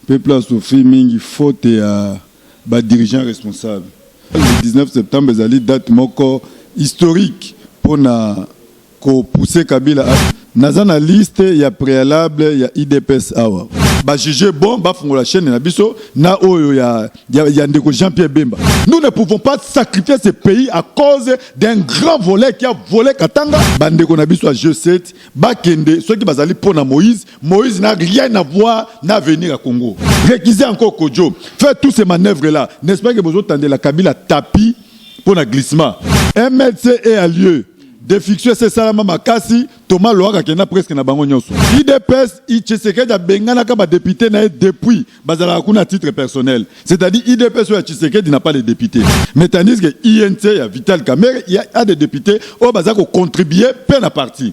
Pe place tofi mingi faute ya ba dirigeants responsables. Le 19 septembre ezali date moko historique pona ko pousser Kabila a. Naza na liste ya prealable ya udps awa. Ba juger bon ba fungola chaine na biso na oyo ya ya ndeko Jean Pierre Bemba. Nous ne pouvons pas sacrifier ce pays à cause d'un grand voleur qui a vole Katanga ba ndeko na biso ya G7. Bakende soki bazali mpo na Moïse, Moïse n'a rien à voir na avenir ya Congo. Recuser encore Kodjo, faire tous ces manœuvres là, n'est-ce pas que bozo tandela Kabila tapis mpo na glissement. MLC est à lieu de fiction esesalama makasi, Thomas Loaka akenda presque na bango nyonso. Udps, Tshisekedi abenganaka ba deputes na ye depuis Bazalaka kuna à titre personnel. C'est-à-dire IDPS ya Tshisekedi n'a pas les députés. Mais tandis que INC ya Vital Kamerhe il y a des députés au baza ko contribuer pe na parti.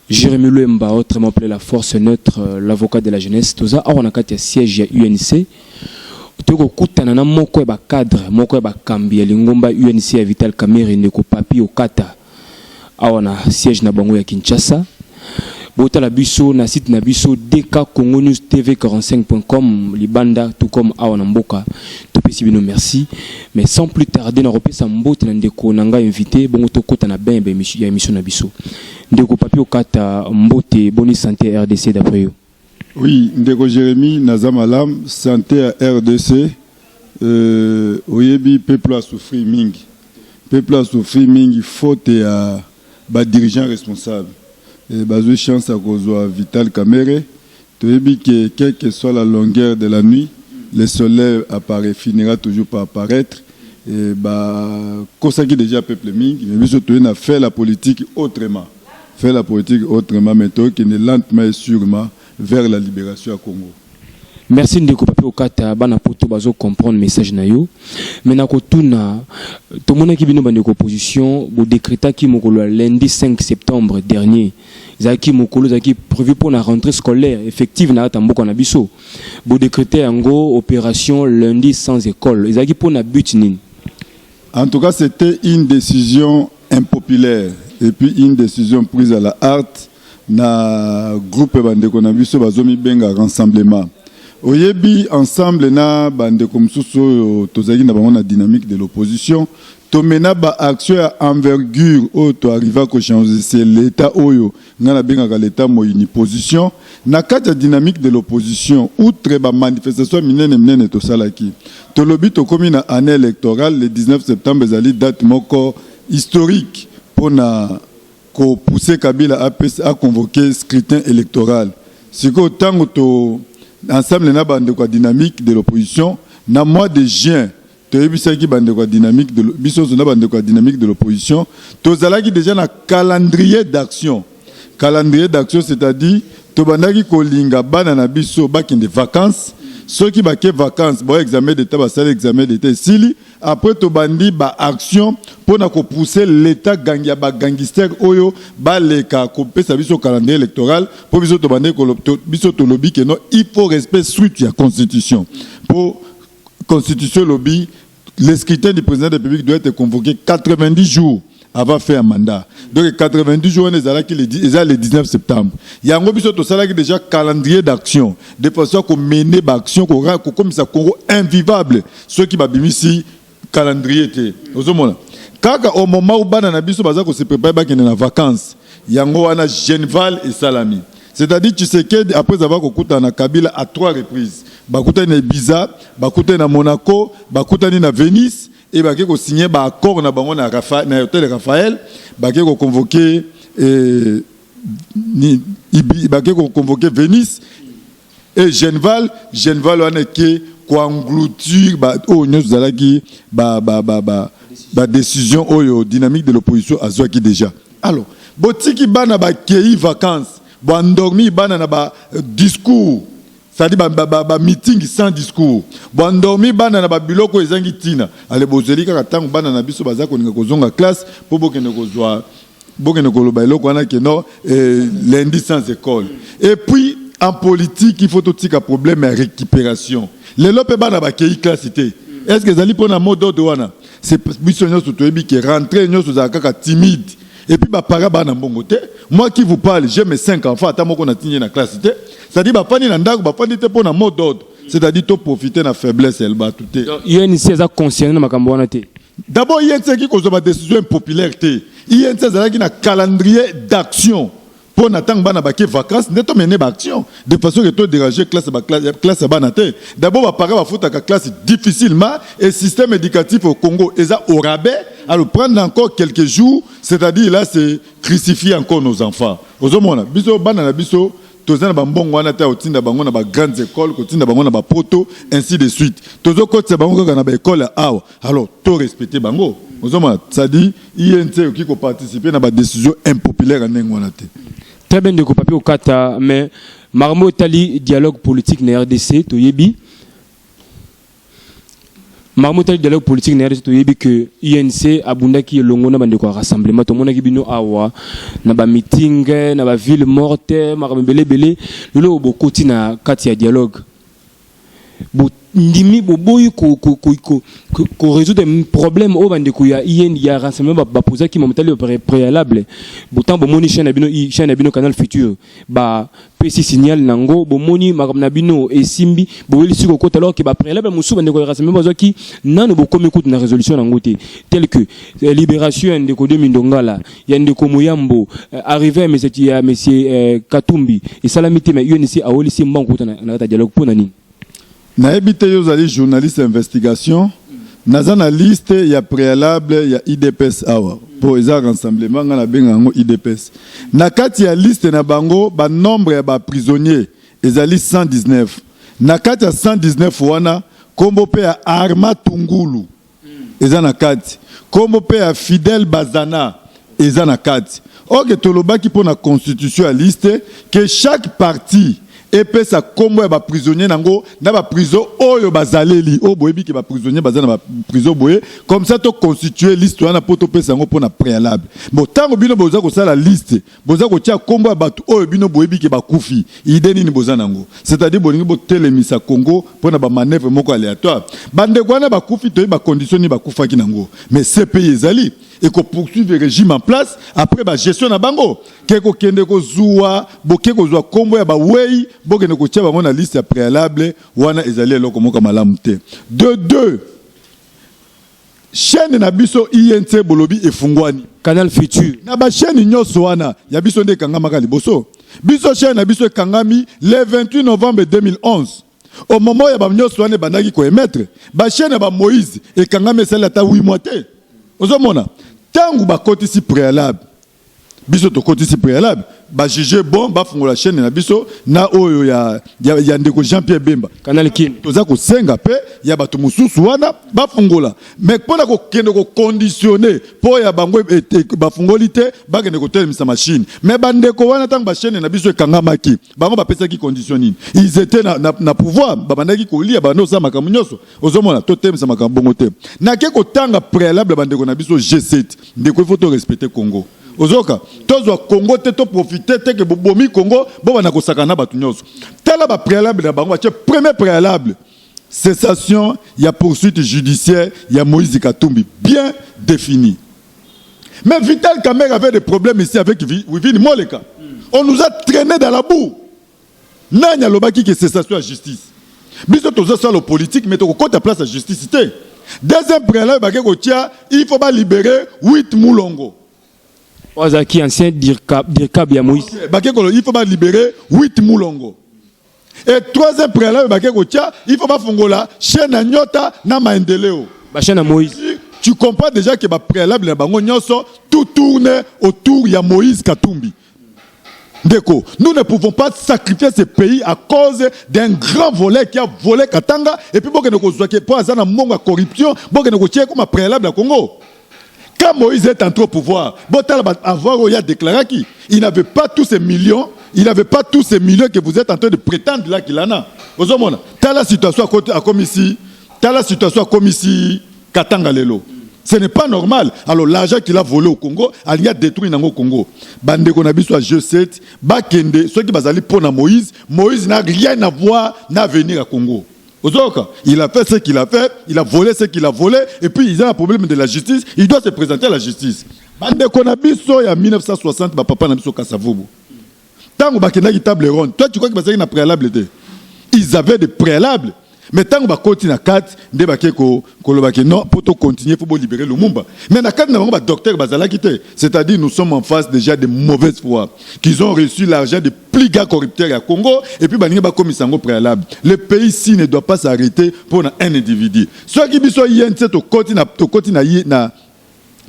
Jérémy Luemba, autrement appelé la force neutre, euh, l'avocat de la jeunesse, toza awa na kati ya siège ya UNC. Toko kutana na moko ya ba cadre, moko ya ba kambi ya lingomba UNC ya Vital Kamerhe ndeko Papi Okata. Awa na siège na bango ya Kinshasa. Botala biso na site na biso dkcongonewstv45.com libanda tout comme awa na mboka. Topesi bino merci. Mais sans plus tarder na kopesa mbote na ndeko na ngai invité bongo tokota na bain ya ba émission- ya émission na biso. Ndeko Papy Okata, mbote, boni sante ya RDC d'après yo? Oui, ndeko Jeremie, naza malam, sante ya RDC, euh, oyebi peuple a souffrir mingi. Peuple a souffrir mingi faute ya ba dirigeants responsables. Et bazo chance ya kozwa Vital Kamerhe Toyebi que quel que soit la longueur de la nuit, le soleil apparait, finira toujours par apparaitre et ba kosaki dejà peuple mingi mais biso toye na faire la politique autrement, faire la politique autrement mais toye kende lentement et surement vers la liberation ya Congo. Merci ndeko Papy Okata, bana poto bazo comprendre message na yo. Mais na kotuna, tomonaki bino bandeko opposition, bo decretaki mokolo ya lundi 5 septembre dernier, ezalaki mokolo ezalaki prévu pour la rentrée scolaire effective na kati ya mboka na biso bodecrete yango opération lundi sans école ezalaki mpo na but nini en tout cas c'était une décision impopulaire et puis une décision prise à la harte na groupe bandeko na biso bazomibenga rassemblement oyebi ensemble na bandeko mosusu oyo tozalaki na bango na dynamique de l'opposition To mena ba actions ya envergure oyo to arriva ko changer c'est l'Etat oyo nga na bengaka l'Etat moyini position na kati ya dynamique de l'opposition outre ba manifestations ya minene minene to salaki to lobi to komi na annee electorale le 19 septembre ezali date moko historique pona ko pousser Kabila apesa a convoquer scrutin electoral sikoyo tango to ensemble na ba ndeko ya dynamique de l'opposition na mois de juin Toyebisaki bandeko ya dynamique de biso nso na bandeko ya dynamique de l'opposition tozalaki deja na calendrier d'action calendrier d'action c'est-à-dire tobandaki kolinga bana na biso bakende vacances soki bake vacances bao examen d'état basali examen d'état esili après tobandi ba action mpo na kopousser l'état gangi ya bagangister oyo baleka kopesa biso calendrier électoral mpo biso tobandaki biso tolobi keno il faut respect suite ya constitution mpo Constitution elobi le scrutin du president de la Republique doit être convoqué 90 jours avant fin ya mandat donc 90 jours wana ezalaki le di- eza le 19 septembre yango biso tosalaki déjà calendrier d'action de façon ya komene baaction kora- kokomisa congo invivable soki babimisi calendrier te ozomona kaka au moment où bana na biso baza kose prépare bakende na vacances yango wana genval esalami C'est à dire Tshisekedi après avoir kokutana na Kabila à trois reprises bakutani na Ibiza, bakutani na Monaco, bakutani na Venise et bake ko signer ba accords na bango na Rafa, na hôtel Raphaël, bake ko convoquer eh, ni, Ibi, bake ko convoquer Venise et Genval, Genval wana eke ko engloutir ba oyo oh, nyonso zalaki ba ba ba ba, ba décision oyo dynamique de l'opposition azwaki déjà Alors, botiki bana bakeyi vacances, bo endormi bana na ba euh, discours, c'est-à-dire ba, ba, ba, ba meeting sans discours. Bo endormi bana na ba biloko ezangi tina. Ale bozeli kaka tango bana na biso baza kolinga kozonga classe po bokende kozwa bokende koloba eloko wana que non eh, lundi sans école. Et puis en politique il faut totika problème ya récupération. Lelo pe bana bakeyi classe te. Est-ce que ezali pona mot d'ordre wana? C'est biso nyoso toyebi que rentrée nyoso za kaka timide. Et puis ba para ba na mbongo te. Moi qui vous parle, j'ai mes 5 enfants ata moko na tinye na classe te. C'est-à-dire ba fani na ndaku, ba fani te pona mot d'ordre. C'est-à-dire to profiter na faiblesse ya batu te. Donc UNC eza concerné na makambo wana te. D'abord UNC ki kozwa ba décision impopulaire te. UNC ezalaki na calendrier d'action. mpo na ntango bana bake vacances nde tomene baaction de façon ke to dérange classe classe ya bana te d'abord bapara bafutaka classe difficilement et système éducatif au congo eza au rabais alors prendre encore quelques jours c'est-à-dire là c'est crucifier encore nos enfants ozomona biso bana na biso toza na bambongo wana te ya kotinda bango na bagrandes écoles kotinda bango na bapoto ainsi de suite tozokotisa bango kaka na baekole ya awa alors to respecte bango ozomona c'est-à-dire INC oki ko participer na ba decision impopulaire ya ndenge wana te. Très bien ndeko papi okata mais makambo etali dialogue politique na RDC toyebi makambo etali dialogue politique na rdc toyebi ke unc abundaki elongo na bandeko ya rassemblement tomonaki bino awa na bamiting na baville morte makambo ebele ebele lelo bokoti na kati ya dialogue bondimi boboyi koresoudre problème oyo bandeko ya in ya renseignement bapozaki mamatali préalable botango bomoni chaine ya bino chaine ya bino canal future bapesi signal na yango bomoni makambo na bino esimbi bowelisi kokota alors ke bapréalable mosusu bandeko ya renseignement bazwaki nano bokomi kutu na résolution na yango te tel que eh, libération ya ndeko de mindongala ya ndeko Muyambo euh, arrivé mais c'est ya monsieur euh, Katumbi et salami te mais UNC awoli si mbangu kota na kata dialogue pona nini nayebi te yo ozali journaliste investigation naza na liste ya préalable ya idps awa mpo eza rassemblement ngai nabenga yango idps na kati ya liste na bango banombre ya baprisonnier ezali 119 na kati ya 119 wana nkombo mpe ya arma tungulu eza na kati kombo pe ya Fidel Bazana eza na kati ok tolobaki mpo na constitution ya liste que chaque parti epesa kombo ya ba prisonnier na ngo na ba prison oyo bazaleli oyo boyebi ke ba prisonnier baza na ba prison boye comme ça to constituer liste wana mpo topesa yango mpo na prealable bon ntango bino boza kosala liste Boza kotia kombo ya batu oyo bino boyebi ke bakufi. Idee nini boza nango? C'est-à-dire bolingi botelemisa Congo pona ba manevres moko aleatoire? Bandeko wana bakufi toyebi ba conditions nini bakufaki nango. Mais CPI ezali et ko poursuivre regime en place après ba gestion na bango ke kokende kozuwa boke kozua kombo ya baweyi bokende kotia bango na liste ya prealable wana ezali eloko moko ya malamu te. De deux, Chaine na biso INC bolobi efungwani. Canal Futur. Na ba chaine nyoso wana ya biso nde ekangamaka liboso. Biso chaine na biso ekangami le 28 novembre 2011. Au moment ya ba nyoso wana ebandaki ko emettre, ba chaine ya ba Moïse ekangami esali ata 8 mois te. Ozomona? Tangu bakotisi prealable biso tokotisi prealable ba juge bon bafungola chaîne na biso na oyo ya, ya, ya ndeko jean pierre bemba kanal kin toza kosenga mpe ya bato mosusu wana bafungola me mpo na kokende kokonditione mpo ya bango e- e- e- bafungoli te bakende kotelemisa mashine me bandeko wana ntango bashene na biso ekangamaki bango bapesaki condition nini ils étaient na, na, na pouvoir babandaki kolia babanda kosala makambo nyonso ozomona totemisa makambo bongo te nake kotanga préalable bandeko na biso g7 ndeko ifo to respecte congo ozoka tozwa congo te toprofite te ke bobomi congo bobanda kosakana na bato nyonso tala bapréalable na bango batie premier préalable cessation ya poursuite judiciaire ya moïse katumbi bien défini mais vital kamer avait des problèmes ici avec wivine moleka on nous a traîné dans la boue Nani alobaki que cessation ya justice? Biso tozo salo politique mais toko kota place ya justice te. Deuxième prealable bake kotia il faut ba libérer 8 Mulongo. Waza ki ancien dircab dircab ya Moïse. Okay. Bake kolo il faut ba libérer 8 Mulongo. Et troisième prealable bake kotia il faut ba fongola chaîne ya Nyota na Maendeleo. Ba chaîne ya Moïse. Tu comprends déjà que ba prealable na bango nyoso tout tourne autour ya Moïse Katumbi. Ndeko, nous ne pouvons pas sacrifier ce pays à cause d'un grand volet qui a volé Katanga et puis bokende kozwa ke po aza na mbongo ya corruption bokende kotie kuma préalable ya Congo. Quand Moïse est entré au pouvoir, botala ba avoir oyo déclaraki, il n'avait pas tous ces millions, il n'avait pas tous ces millions que vous êtes en train de prétendre là qu'il en a. Ozomona, tala situation à côté à commissi, tala situation à commissi Katanga lelo ce n'est pas normal alors l'argent qu'il a volé au Congo alingi adétruire nango Congo bandeko na biso ya G7 bakende soki bazali mpo na Moïse Moïse n'a rien à voir na avenir ya Congo ozoyoka il a fait ce qu'il a fait il a volé ce qu'il a volé et puis ils ont un problème de la justice il doit se présenter à la justice bandeko na biso ya 1960 bapapa na biso kasavubu Tango bakendaki table ronde, toi tu crois que bazalaki na prealable te? Ils avaient des préalables. Mais tango bakoti na kati nde bake ko koloba que non pour to continuer faut bo libérer Lumumba. Mais na kati na bango ba docteurs bazalaki te. C'est-à-dire nous sommes en face déjà de mauvaise foi qu'ils ont reçu l'argent de plus grands corrupteurs ya Congo et puis baninga bakomisa yango préalable. Le pays si ne doit pas s'arrêter pour un individu. Soki biso yentse tokoti na tokoti na ye na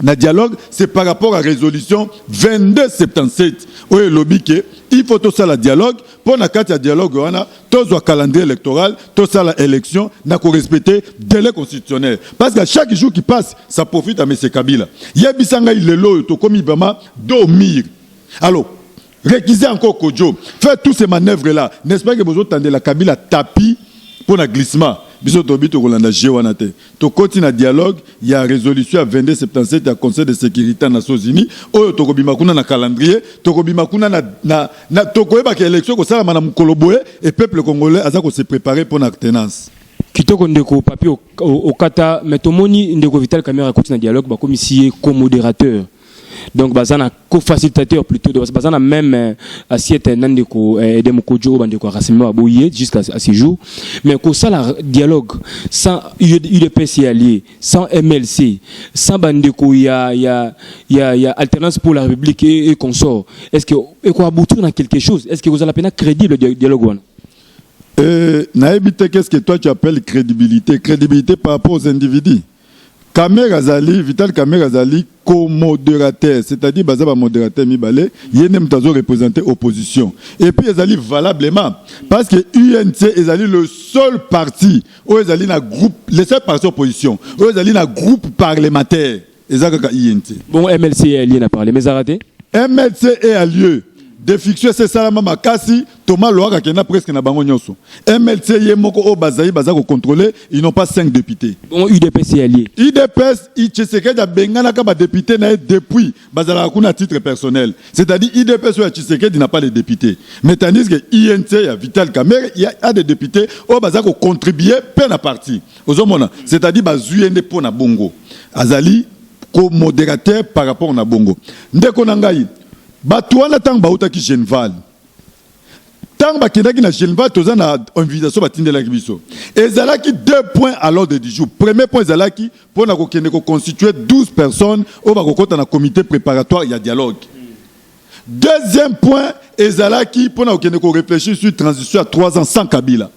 na dialogue c'est par rapport à résolution 2277 oyo elobi ke il faut tosala dialogue mpo na kati ya dialogue wana tozwa calendrier électoral tosala élection na korespecte délai constitutionnel parce que chaque jour qui passe ça profite à monsieur kabila yebisa ngai lelo oyo tokomi vraiment do mire alors Recuser encore Kodjo, faire tous ces manœuvres là, n'est-ce pas que bozo tandela Kabila tapis pour na glissement? Biso tobi tokolanda jeu wana te. Tokoti na dialogue ya resolution ya 2277 ya Conseil de securite ya Nations Unies oyo tokobima kuna na calendrier, tokobima kuna na, na, na tokoyeba ke election kosalama na mukolo boye et peuple congolais aza ko se preparer pour na tenance. Kitoko ndeko papi okata mais tomoni ndeko Vital Kamerhe akoti na dialogue bakomisi ye co-moderateur. donc baza na co-facilitateur plutôt donc baza na même euh, assiette na ndeko euh, Edem Kodjo oyo bandeko ya rassemblement baboye jusqu'à à ce jour mais kosala dialogue sans UDPS ya allié sans MLC sans bandeko ya ya ya, ya alternance pour la République et, et consort est-ce que eko aboutir na quelque chose est-ce que kozala pena crédible dialogue wana euh, nayebi te qu'est-ce que toi tu appelles crédibilité crédibilité par rapport aux individus Kamere azali Vital Kamere azali co-moderateur c'est-à-dire baza ba moderateur mibale ye nde moto azo representer opposition et puis ezali valablement parce que UNC ezali le seul parti oyo ezali na groupe le seul parti opposition oyo ezali na groupe parlementaire eza kaka UNC. Bongo MLC est allié na parlement ezalaka te? MLC est allié defiction esi esalama makasi Thomas Loaka akenda presque na bango nyonso. MLC ye moko oyo bazali baza ko contrôler, ils n'ont pas 5 députés. Bongo UDPS ye alie. UDPS Tshisekedi abenganaka ba depute na ye depuis bazalaka kuna à titre personnel. C'est-à-dire UDPS oyo ya Tshisekedi n'a pas les deputes. Mais tandis que INC ya Vital Kamerhe il y a des deputes oyo baza ko contribuer pe na parti. Ozomona? C'est-à-dire bazui ye nde po na bongo. Azali ko moderateur par rapport na bongo. Ndeko na ngai, batu wana tango bautaki Genval, ntango bakendaki na Geneva, toza na invitation batindelaki biso, ezalaki deux points à l'ordre du jour. Premier point ezalaki mpo na kokende koconstituer 12 personnes oyo bakokota na comité préparatoire ya dialogue. Deuxième point ezalaki mpo na kokende koreflechir sur transition ya 3 ans sans Kabila.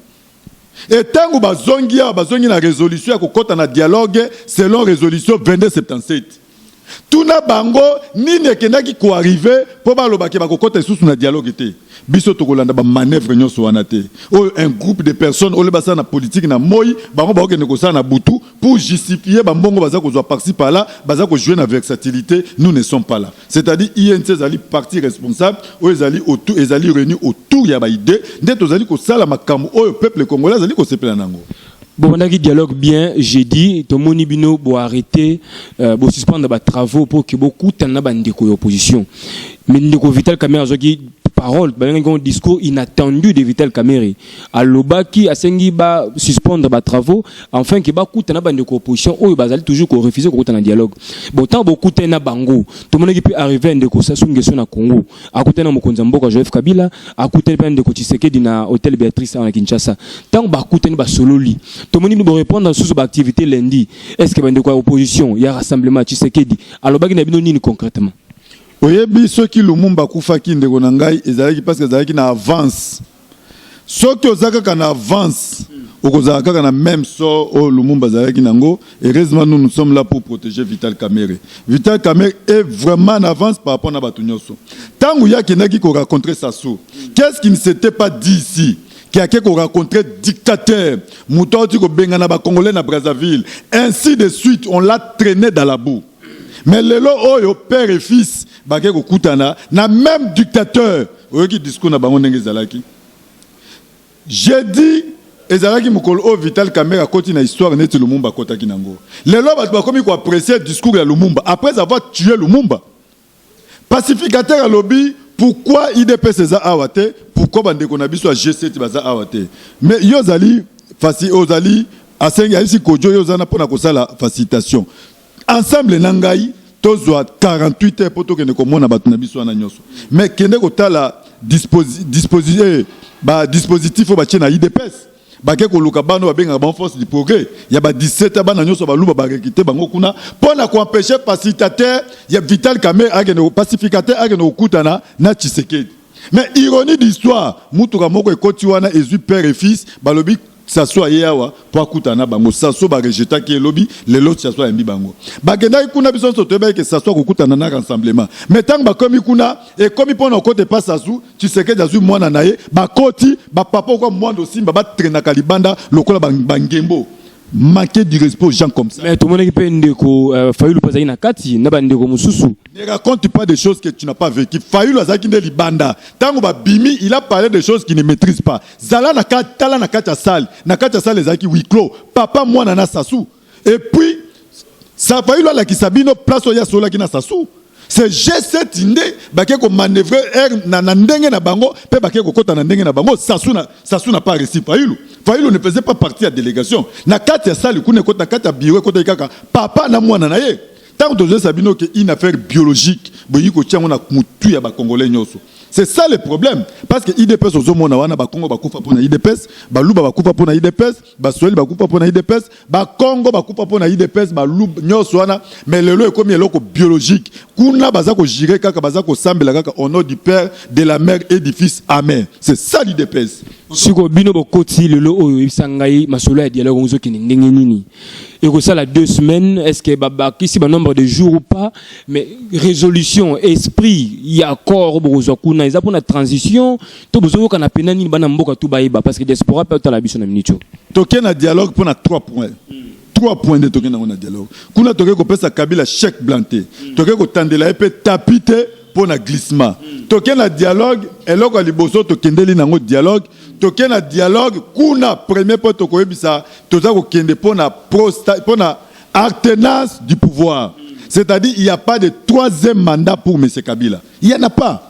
E ntango bazongi awa, bazongi na resolution ya kokota na dialogue selon resolution 2277. Tuna bango nini ekendaki ko arriver po baloba ke bakokota lisusu na dialogue te. Biso tokolanda ba manevres nionso wana te. Oyo un groupe de personnes au lieu basala na politique na moyi, bango bakokende kosala na butu pour justifier ba mbongo baza kozua par ci par là, baza ko jouer na versatilite, nous ne sommes pas là. C'est-à-dire UNC ezali parti responsable oyo ezali autour, ezali reunie autour ya ba idees nde tozali kosala makambo oyo peuple congolais azali kosepela na yango. bobandaki dialogue bien jeudi tomoni bino bo arrete euh, bo suspendre ba travaux mpo ke bokutana na bandeko ya opposition mais ndeko vital kamere azwaki parole babengaki yango discours inattendu de vital kamere alobaki asengi ba suspendre ba travaux enfin ke bakutana na bandeko ya opposition oyo bazali toujours korefuse kokutana na dialogue bon ntango bokutani na bango tomonaki mpe arrive ya ndeko sasungeso na congo akutani na mokonzi ya mboka Joseph Kabila, akutani mpe na ndeko Tshisekedi na hotel Beatrice awa na Kinshasa. Ntango bakutani basololi, tomoni bino borepondre lisusu baaktivité lundi. Est ce que bandeko ya opposition ya rassemblement Tshisekedi alobaki na bino nini concrètement? Oyebi soki Lumumba akufaki ndeko na ngai ezalaki parce que azalaki na avance soki oza kaka na avance okozala kaka na meme sort oyo lumumba azalaki nango heureusement nous nous sommes là pour protéger vital kamere vital kamere est vraiment en avance par rapport na bato nyonso ntango ye akendaki koracontre sassou qu'est ce qui ne s'était pas dit ici qui a ko rencontrer dictateur moto auti kobengana bakongolais na brazzaville ainsi de suite on l'a traîné dans la boue Mais lelo oyo père et fils bake kokutana na même dictateur. Oyoki discours na bango ndenge ezalaki. Jeudi ezalaki mokolo oyo Vital Kamerhe akoti na histoire neti Lumumba akotaki nango. Lelo bato bakomi ko apprécier discours ya Lumumba après avoir tué Lumumba. Pacificateur alobi pourquoi udps eza awa te pourquoi bandeko na biso ya G7 baza awa te mais yo ozali fasi ozali asengi ayebisi kojo yo ozana mpona kosala facilitation ensemble na ngai tozwa 48 heures mpo tokende komona bato na biso wana nyonso mais kende kotala disposi, disposi, eh, ba dispositif oyo batye na udps bake koluka bana babengaka bango force du progrès ya ba 17 ans bana nyonso baluba barekite bango kuna mpo na koempeshe pacificateur ya vital kamer akende pacificateur akende kokutana na tshisekedi mais ironie d'histoire motuka moko ekoti wana ezwi père et fils balobi saso aye awa mpo akutana na bango saso barejetaki elobi lelo saso ayambi bango bakendaki kuna biso nyonso toyebaki ke saso akokutana na rassemblement mais ntango bakomi kuna ekomi mpo na kokota epa sasu Tshisekedi azwi mwana na ye bakoti ba papa okwa mwando simba ba trainaka libanda lokola ba, ba ngembo manquer du respect aux gens comme ça. Mais tomonaki mpe ndeko euh, Fayulu mpe azalaki na kati na bandeko mosusu. Ne raconte pas des choses que tu n'as pas vécu. Fayulu azalaki nde libanda ntango babimi, il a parlé des choses qu'il ne maîtrise pas. Zala na kati, tala na kati ya salle, na kati ya salle ezalaki huis clos, papa mwana na sasu Et puis, ça a failli la Kisabino, place où il y a cela qui n'a sa sou. C'est G7 nde bake ko manœuvrer er na, na ndenge na bango pe bake ko kota na ndenge na bango Sassou na Sassou n'a pas réussi Fayulu Fayulu ne faisait pas partie de la délégation na kati ya salle kuna kota kati ya bureau kota kaka papa na mwana na ye tant que ça bino que une affaire biologique boyi ko tiango na mutu ya ba congolais nyoso c'est ça le problème parce que IDPS ozomona wana ba Congo bakufa pona IDPS baluba bakufa pona IDPS Basweli bakufa mpo na udps, bakongo bakufa mpo na udps, balub nyonso wana mais lelo ekomi eloko biologique. Kuna baza kojire kaka, baza kosambela kaka au nom du Père, de la Mère et du Fils. Amen. C'est ça l'udps. siko bino bokoti lelo oyo oyebisa ngai masolo ya dialogue ozokende ndenge nini ekosala deux semaines est ce que babakisi banombre de jour ou pas mais résolution esprit ya accord bokozwa kuna eza mpona transition to bozo yoka na pena nini bana mboka tout bayeba parce que diaspora pe otala biso na minute oyo toke na dialogue mpo na 3 points mm. 3 points nde toke nango na dialogue kuna toke kopesa kabila chèque blanc te mm. toke kotandela ye mpe tapi te mpo na glissement mm. toke na dialogue eloko ya liboso tokendeli nango dialogue toke na dialogue kuna premier mpo tokoyebisa toza kokende mpo na mpo na alternance du pouvoir mm. c'est-à-dire il n'y a pas de troisième mandat pour monsieur kabila il n'y en a pas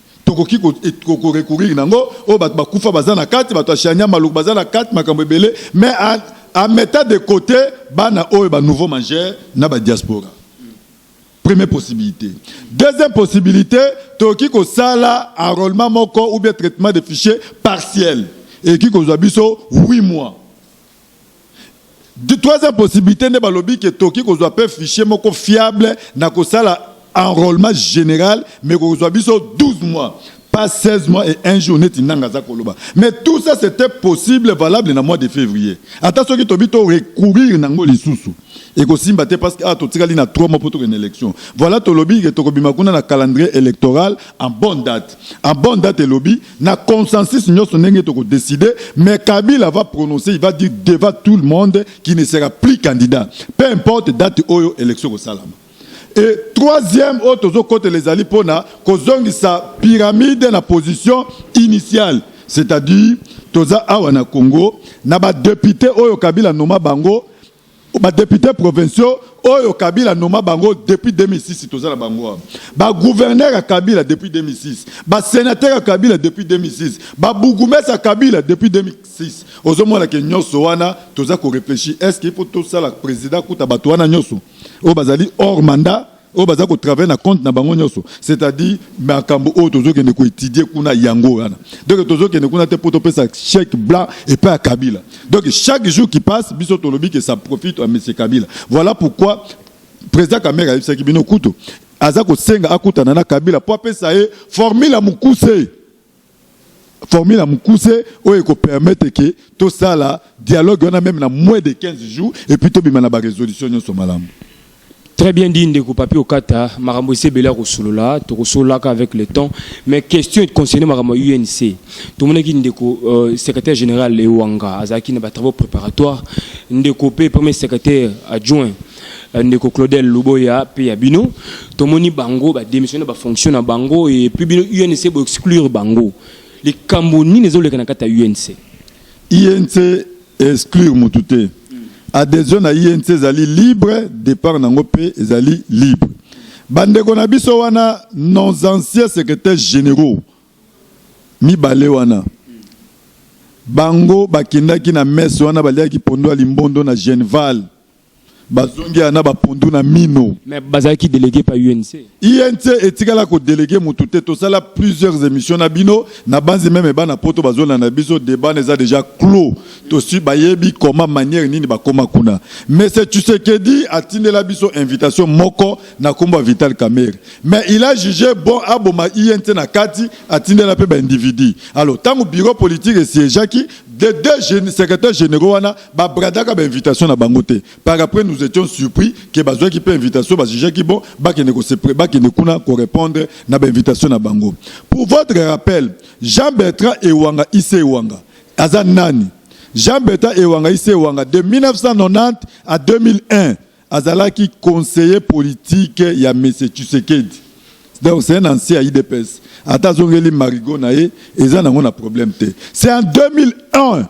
tokoki korecourir na yango oyo bato bakufa baza na kati bato ya shania maluku baza na kati makambo ebele mais en mettant de côté bana oyo ba nouveau majeur na ba diaspora première possibilité deuxième possibilité tokoki kosala enrôlement moko ou bien traitement de fichier partiel ekoki kozwa biso 8 mois Troisième possibilité nde balobi ke toki kozwa pe fichier moko fiable na kosala enrôlement général mais kozwa biso 12 mois pas 16 mois et un jour neti nanga aza koloba mais tout ça c'était possible valable na mois de février ata soki tobi to recourir nango lisusu ekosimba te parce que awa totikali na 3 mois mpo tokende élection voilà tolobi ke tokobima kuna na calendrier électoral en bonne date en bonne date elobi na consensus nyonso ndenge tokodécide mais kabila va prononcer il va dire devant tout le monde qui ne sera plus candidat peu importe date oyo élection ekosalama Et troisième oyo tozokotela ezali mpo na kozongisa pyramide na position initiale c'est-à-dire toza awa na Congo na ba deputes oyo Kabila noma bango ba deputes provinciaux oyo Kabila noma bango depuis 2006 toza na bango awa ba gouverneurs ya Kabila depuis 2006 ba senateurs ya Kabila depuis 2006 ba bourgmestres ya Kabila depuis 2006 ozomona ke nyonso wana toza ko reflechir est-ce qu'il faut tosala president kuta bato wana nyonso oyo bazali hors mandat oyo baza ko travailler na compte na bango nyonso c'est-à-dire makambo oyo tozokende koetudie kuna yango wana donc tozokende kuna te mpo topesa chèque blanc epai ya kabila donc chaque jour qui passe biso tolobi ke ça profite à monsieur kabila voilà pourquoi président kamere ayebisaki bino kutu aza kosenga akutana na kabila mpo apesa ye formule ya mokuse formule ya mukuse oyo eko permettre que tosala dialogue wana meme na moins de 15 jours et puis tobima na ba resolution nyonso malamu Très bien dit ndeko papi okata makambo ese ebele ya kosolola tokosololaka avec le temps mais question concerne makambo ya UNC tomonaki ndeko euh, secrétaire général Ewanga azalaki na ba travaux préparatoires ndeko mpe premier secrétaire adjoint euh, ndeko claudel luboya mpe ya bino tomoni bango badémissionne bafonction na bango epuis bino unc boexclure bango likambo nini ezoleka na kati ya unc inc exclure motu te adhesion na inc ezali libre départ na yango mpe ezali libre bandeko na biso wana nos anciens secrétaires généraux mibale wana bango bakendaki na messe wana baliaki pondo ya limbondo na genval bazongi na bapondu na mino mais bazalaki délégué pa UNC UNC etikala ko délégué mutu te tosala plusieurs émissions na bino na banzi meme bana poto bazolanda biso débat eza déjà clos tosi bayebi comment manière nini bakoma kuna mais c'est Tshisekedi atindela biso invitation moko na kombo ya Vital Kamerhe mais il a jugé bon aboma UNC na kati atindela pe ba individu alors tango bureau politique esiégeaki de deux secrétaires généraux wana Ba bradaka ba invitation na bango te par après nous etions surpris que bazwaki pe invitation ba jugeaki bon bakende ko se pre bakende kuna ko repondre na ba invitation na bango pour votre rappel Jean Bertrand Ewanga Ise Ewanga aza nani Jean Bertrand Ewanga Ise Ewanga de 1990 à 2001 azalaki conseiller politique ya Monsieur Tshisekedi donc c'est un ancien ya IDPS ata azongeli marigot na ye eza nango na problème te c'est en 2001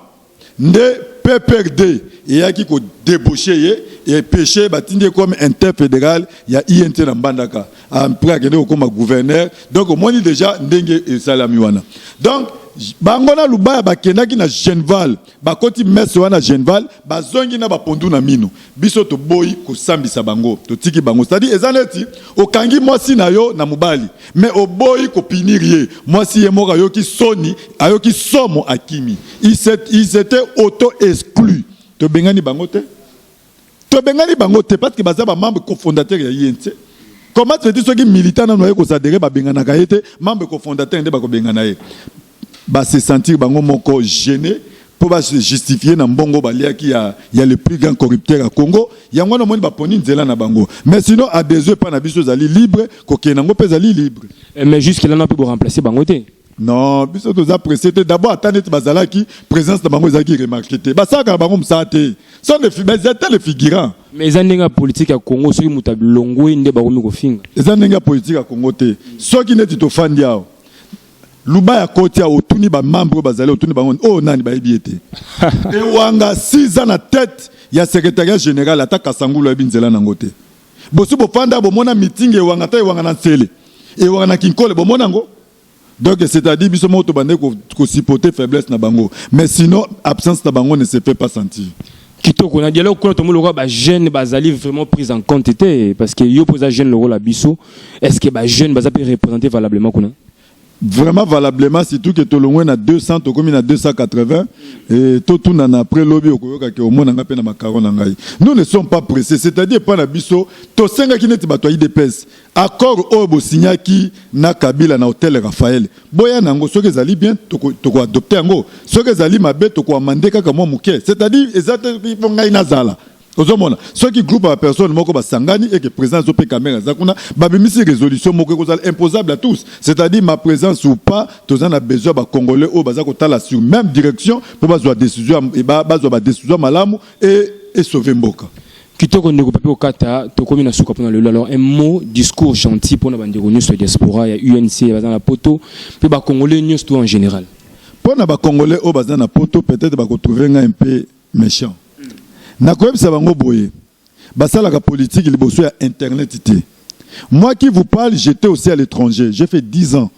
nde PPRD eyaki ko debaucher ye et pecher batindi ye comme inter federal ya INT na Mbandaka après akende kokoma gouverneur donc omoni dejà ndenge esalami wana donc bango na Lubaya bakendaki na Genval bakoti messe wana Genval bazongi na ba pondu na minu Biso toboyi kosambisa bango totiki bango c'est à dire eza neti okangi mwasi na yo na mobali mais oboyi ko punir ye mwasi ye moko ayoki soni ayoki somo akimi ils etaient auto exclus tobengani bango te tobengani bango te parce que baza ba membre cofondateur ya INC comment tu veux dire soki militant nanu aye ko s'adherer babenganaka ye te membre cofondateur nde bakobengana ye ba se sentir bango moko gene mpo ba se justifier na mbongo baliaki ya, ya le plus grand corrupteur ya Congo. Yango wana omoni baponi nzela na bango, mais sinon adhesion epai na biso ezali libre, kokende yango mpe ezali libre. Eh, mais jusque là na mpe bo remplacer bango te non biso toza presse te d'abord ata neti bazalaki présence na bango ezalaki remarke te basalaka na bango mosala te ata le figurant mais eza ndenge ya politike ya congo soki moto alongwe nde bakomi kofinga eza ndenge ya politike ya congo te soki neti tofandi awa Luba ya kotia otuni ba membres oyo bazali otuni bango oyo nani bayebi ye te ewanga siza na tete ya secretariat general ata kasangulu ayebi nzela nango te bosi bofanda bomona meeting ewanga ata ewanga na nsele ewanga na kinkole bomona yango donc c'est-à-dire biso moko tobandaki kosipote faiblesse na bango mais sinon absence na bango ne se fait pas sentir kitoko na dialogue kuna tomoni lokola bajeune bazali vraiment prise en compte te parce que yo mpo oza jeune lokola biso est ce que bajeune baza mpe représente valablement kuna vraiment valablement surtout ke tolongwe na 200 tokomi na 280 e, totunana après lobi okoyoka ke omonanga mpe na makaro na ngai nous ne sommes pas pressé c'est-à-dire epai na biso tosengaki neti bato ya idps Accord oyo bo signaki na Kabila na hotel Raphaël, boya na yango soki ezali bien toko toko adopter yango, soki ezali mabe toko amender kaka mwa muke, c'est à dire eza te il faut ngai nazala Ozomona soki groupe ya personne moko basangani et que president azo pe camera aza kuna babimisi resolution moko ekozala imposable à tous c'est à dire ma présence ou pas toza na besoin ba congolais oyo baza kotala sur même direction mpo bazwa décision et ba- bazwa ba décision malamu et et sauver mboka Kitoko ndeko Pepe Okata, tokomi na suka pona lelo. Alors un mot, discours gentil pona bandeko nyonso ya diaspora ya UNC baza na poto pe ba congolais nyonso tout en général. Pona ba congolais oyo baza na poto peut-être bako trouver nga un peu méchant. Na koyebisa bango boye, basalaka politique liboso ya internet te. Moi qui vous parle, j'étais aussi à l'étranger. J'ai fait 10 ans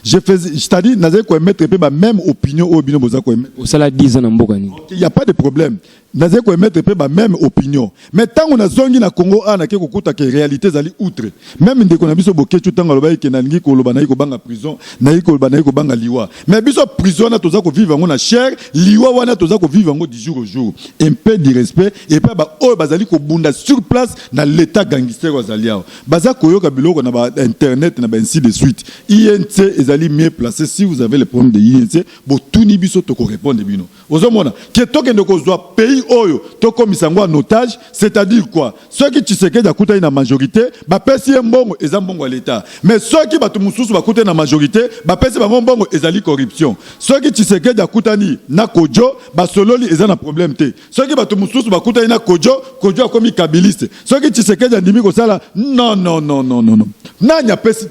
Je faisais, c'est-à-dire, nazali ko émettre pe ba même opinion oyo bino boza ko émettre. Osala 10 ans na mboka nini? Il y a pas de problème. Nazali ko émettre pe ba même opinion. Mais tango na zongi na Congo a na ke kokuta ke réalité ezali outre. Même ndeko na biso Boketshu tango alobaki ke nalingi koloba nayi kobanga prison, nayi koloba nayi kobanga liwa. Mais biso prison wana toza ko vivre yango na chair, liwa wana toza ko vivre yango du jour au jour. Un peu du respect et pas ba oyo bazali kobunda sur place na l'Etat gangster oyo azali awa. Baza koyoka biloko na ba internet na ba ainsi de suite. INC ezali mieux place si vous avez le problème de INC botuni biso toko repondre bino. Ozo mona ke tokende kozwa pays oyo tokomisa yango en otage c'est à dire quoi soki Tshisekedi akutani na majorite bapesi ye mbongo eza mbongo ya l'etat mais soki batu mususu bakutani na majorite bapesi bango mbongo ezali corruption soki Tshisekedi akutani na Kodjo basololi eza na problème te soki bato mosusu bakutani na kojo kojo akomi kabiliste soki tshisekedi andimi kosala non non non non non nani apesi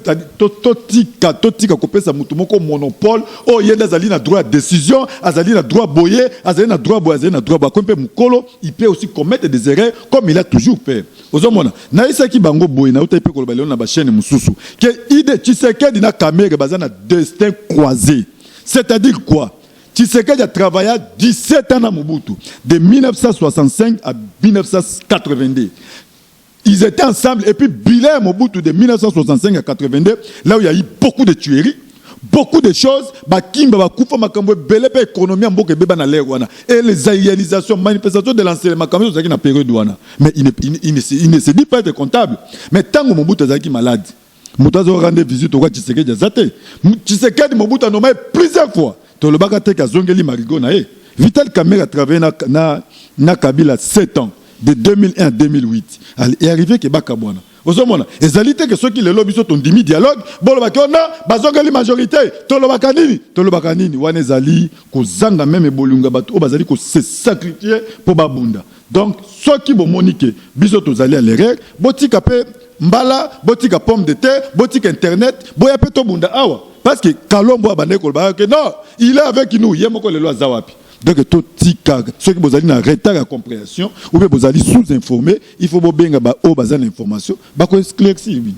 totika totika kopesa moto moko monopole oyo ye nde azali na droit ya décision azali na droit boye azali na droit boye azali na droit boye akomi mpe mokolo il peut aussi commettre des erreurs comme il a toujours fait ozomona nayebisaki bango boye nautaki mpe koloba lelo na bachaîne mosusu ke ide tshisekedi na kamere baza na destin croisé c'est à dire quoi Tshisekedi a travailla 17 ans na Mobutu de 1965 à 1982 ils étaient ensemble et puis bilan ya Mobutu de 1965 à 82 là où il y a eu beaucoup de tueries beaucoup de choses bakimba bakufa makambo ebele mpe économie ya mboka ebeba na lere wana et les réalisations manifestation de l'enseignement makambo ezalaki na période wana mais il ne, il, il, il ne se dit pas être comptable mais ntango Mobutu azalaki malade moto azo kaka nde visite okwa tshisekedi aza te tshisekedi mobutu anoma ye plusieurs fois tolobaka te ke azongeli marigo na ye vital kamere atravaille na, na, na kabila 7 ans de 2001 à 2008 e arrive ke bakabwana ozomona ezali te ke soki lelo biso tondimi dialogue bolobaki ona oh bazongeli majorité tolobaka nini tolobaka nini wana ezali kozanga meme bolingo ya bato oyo bazali kosesakrifie mpo babunda Donc soki bomoni que biso tozali à l'erreur, botika pe mbala, botika pomme de terre, botika internet, boya pe tobunda awa. Parce que Kalombo abandaki kolobaka que non, il est avec nous, ye moko lelo aza wapi? Donc totika, soki bozali na retard ya comprehension ou bien bozali sous-informe, il faut bobenga ba oyo baza na information, bako esclaircir bino.